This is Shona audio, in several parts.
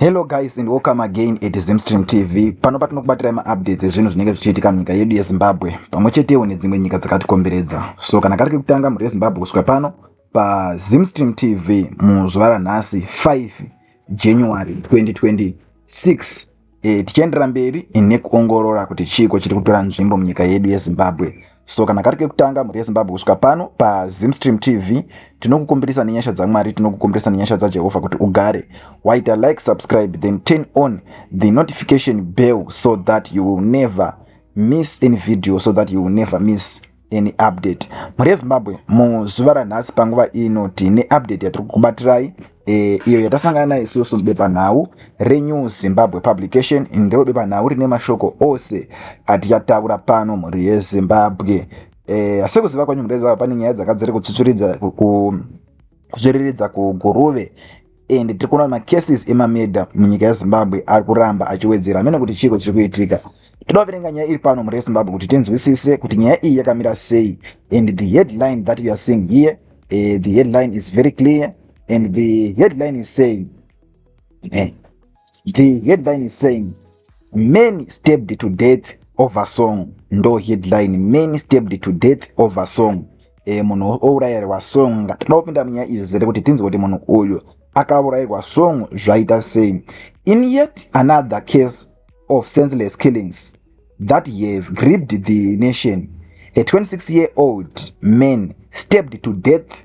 Hello guys and welcome again at Zimstream TV. Pano patinokubatirai maupdates ezvinhu zvinenge zvichiitika munyika yedu yeZimbabwe pamwe chetewo nedzimwe nyika dzakatikomberedza. So kana kari kekutanga mhuri yeZimbabwe kusvika pano paZimstream TV muzuva ranhasi 5 January 2026 e, eh, tichiendera mberi nekuongorora kuti chiiko chiri kutora nzvimbo munyika yedu yeZimbabwe. so kana kari kekutanga mhuri yezimbabwe kusvika pano pazimstream tv tinokukumbirisa nenyasha dzamwari tinokukumbirisa nenyasha dzajehovha kuti ugare waita like subscribe then turn on the notification bell so that you will never miss any video so that you will never miss any update mhuri yezimbabwe muzuva ranhasi panguva ino tine update yatiri kukubatirai e, iyo yatasangana nayo isusu mubepanhau renew zimbabwe publication ndiro bepanhau rine mashoko ose atichatavura pano mhuri yezimbabwe e, asi kuziva kwanyu mhuri yezimbabwe pane nyaya dzaka dziri kutsvitsviridza kutsviriridza kuguruve and tiri kuona macases emameda munyika yezimbabwe ari kuramba achiwedzera amene kuti chiiko chiri kuitika toda kuverenga nyaya iri pano mhuri yezimbabwe kuti tinzwisise kuti nyaya iyi yakamira sei and the headline that youare seeing here uh, the headline is very clear and the headline is saying eh, the headline is saying many stabbed to death over song ndo headline many stabbed to death over song e, munhu ourayirwa song ngatoda kupinda munyaya izvi zere kuti tinzwe kuti munhu uyu akaurayirwa song zvaita sei in yet another case of senseless killings that have gripped the nation a 26 year old man stabbed to death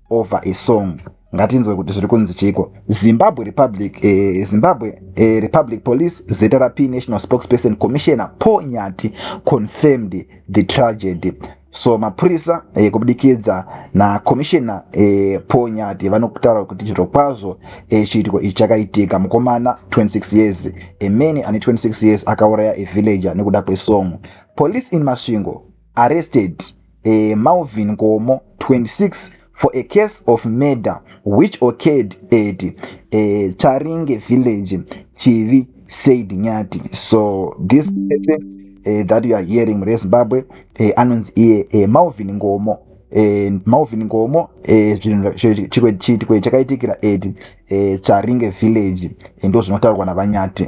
over a song ngatinzwe kuti zviri kunzi chiiko zimbabwe republic eh, zimbabwe eh, republic police zrp national spokesperson commissioner paul nyati confirmed the tragedy so mapurisa eh, kubudikidza nakomishina eh, paul nyati vanotaura kuti chiro kwazvo eh, chiitiko ichi chakaitika mukomana 26 years a man ane 26 years akauraya a villager nekuda kwesong police in masvingo arrested eh, Malvin Nkomo 26 for a case of murder which occurred at eh, Charinge village Chivi said Nyati so this person eh, that you are hearing mune Zimbabwe eh, anonzi iye eh, Malvin Nkomo eh, Malvin Nkomo eh, chiitiko chakaitikira at eh, Charinge village eh, ndozvinotaurwa navanyati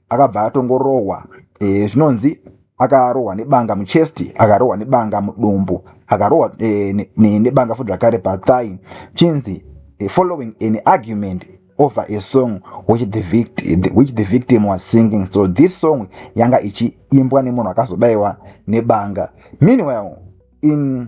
akabva atongorohwa e, zvinonzi akarohwa nebanga muchest akarohwa nebanga mudumbu akarohwa e, ne, ne, nebanga futi zvakare pathai chinzi e, following an argument over a song which the, victim, which the victim was singing so this song yanga ichiimbwa nemunhu akazobaiwa nebanga meanwhile in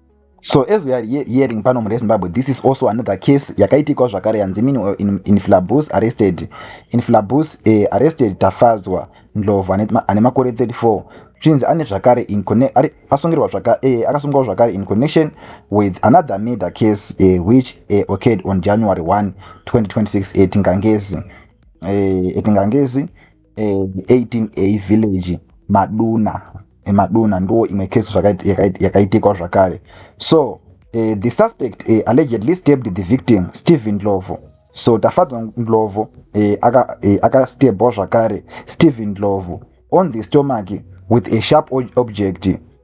so as we are hearing pano mune zimbabwe this is also another case yakaitikwa zvakare yanzi mini uh, inflabus arrested inflabus uh, eh, arrested tafadzwa ndlovu ane makore 34 zvinzi ane zvakare asungirwa eh, akasungirwa zvakare in connection with another murder case eh, which eh, occurred on january 1 2026 etingangezi eh, etingangezi eh, 18a village maduna emaduna ndo imwe case yakaitikwa zvakare so uh, the suspect uh, allegedly stabbed the victim stephen ndlovo so tafadzwa ndlovo uh, eh, akastabwa aka zvakare stephen ndlovo on the stomach with a sharp object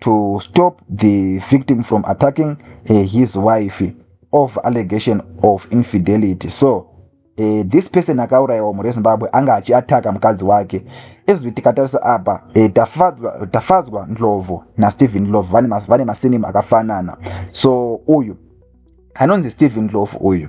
to stop the victim from attacking uh, his wife of allegation of infidelity so uh, this person akaurayiwa mhuri yezimbabwe anga achiataka mukadzi wake ezwi tikatarisa apa uh, tafadzwa, tafadzwa ndlovu nastephen love vane masinima akafanana so uyu anonzi stephen lof uyu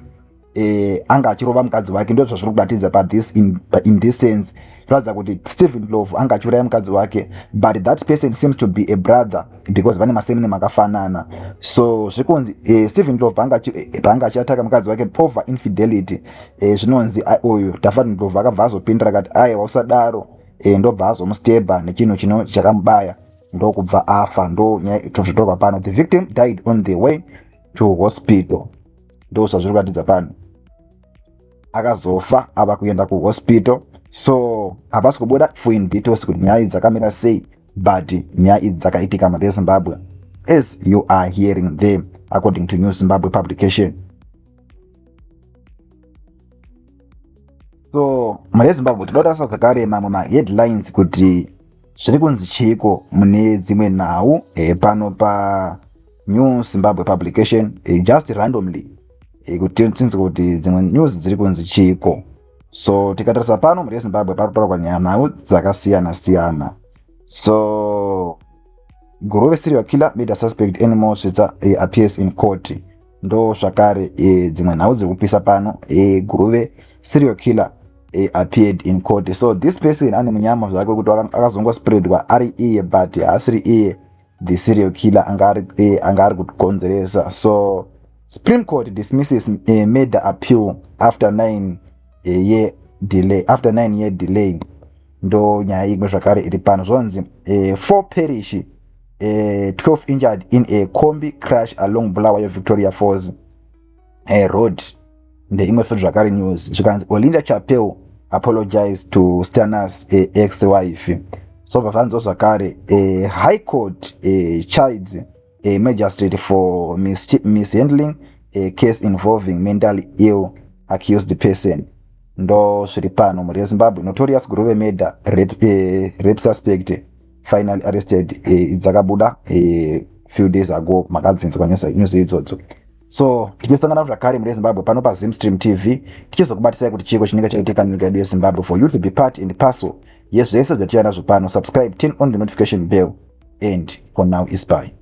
eh, anga achirova mukadzi wake ndo zvazviri kuratidza pathis in, in this sense zviratidza kuti stephen lof anga achiuraya mukadzi wake but that person seems to be a brother because vane masemine makafanana so zviri kunzi eh, stephen lof paanga eh, achiataka mukadzi wake over infidelity eh, zvinonzi eh, uyu uh, tafan lof akabva azopindira kati aiwa usadaro eh, ndobva azomusteba nechinhu chino chakamubaya ndokubva afa ndo nyaya tozvitova pano the victim died on the way to hospital ndo zvazviri kuratidza pano akazofa ava kuenda kuhospital so havasi kubuda for in details kuti nyaya idzi dzakamira sei but nyaya idzi dzakaitika mhuri yezimbabwe as you are hearing them according to new zimbabwe publication so mhuri yezimbabwe tinotarisa zvakare mamwe maheadlines kuti zviri kunzi chiiko mune dzimwe nhau e, pano pa new zimbabwe publication e, just randomly e, kuti tinzwe kuti dzimwe news dziri kunzi chiiko so tikatarisa pano mune zimbabwe pari kutaurwa nyaya nhau dzakasiyana siyana so gurove serial killer made a suspect anymore svitsa e, appears in court ndo zvakare e, dzimwe nhau dziri kupisa pano e, guve serial killer e, appeared in court so this person ane munyama zvake wekuti akazongospreadwa ari iye but haasiri iye the serial killer anga ari e, anga ari kutikonzeresa so supreme court dismisses e, murder appeal after 9 e, year delay after 9 year delay ndo nyaya imwe zvakare iri pano zvonzi e, four perishi eh, 12 injured in a combi crash along bulawayo victoria falls eh, road ndeimwe futi zvakare news zvikanzi olinda chapel apologize to stanas eh, ex wife zvobva zvanzwa zvakare eh, high court eh, chides eh, magistrate for mishandling mis eh, case involving mentally ill accused person ndo zviri pano mhuri yezimbabwe notorious guruve meda rape, eh, rape suspect finally arrested eh, dzakabuda eh, few days ago makadzinzwa news idzodzo so tichosangana zvakare mune zimbabwe pano pazimstream tv tichizokubatisai kuti chiiko chinenge chaitika nyika yedu yezimbabwe for you to be part and parcel yezvese zvatiya nazvo pano subscribe turn on the notification bell and for now is by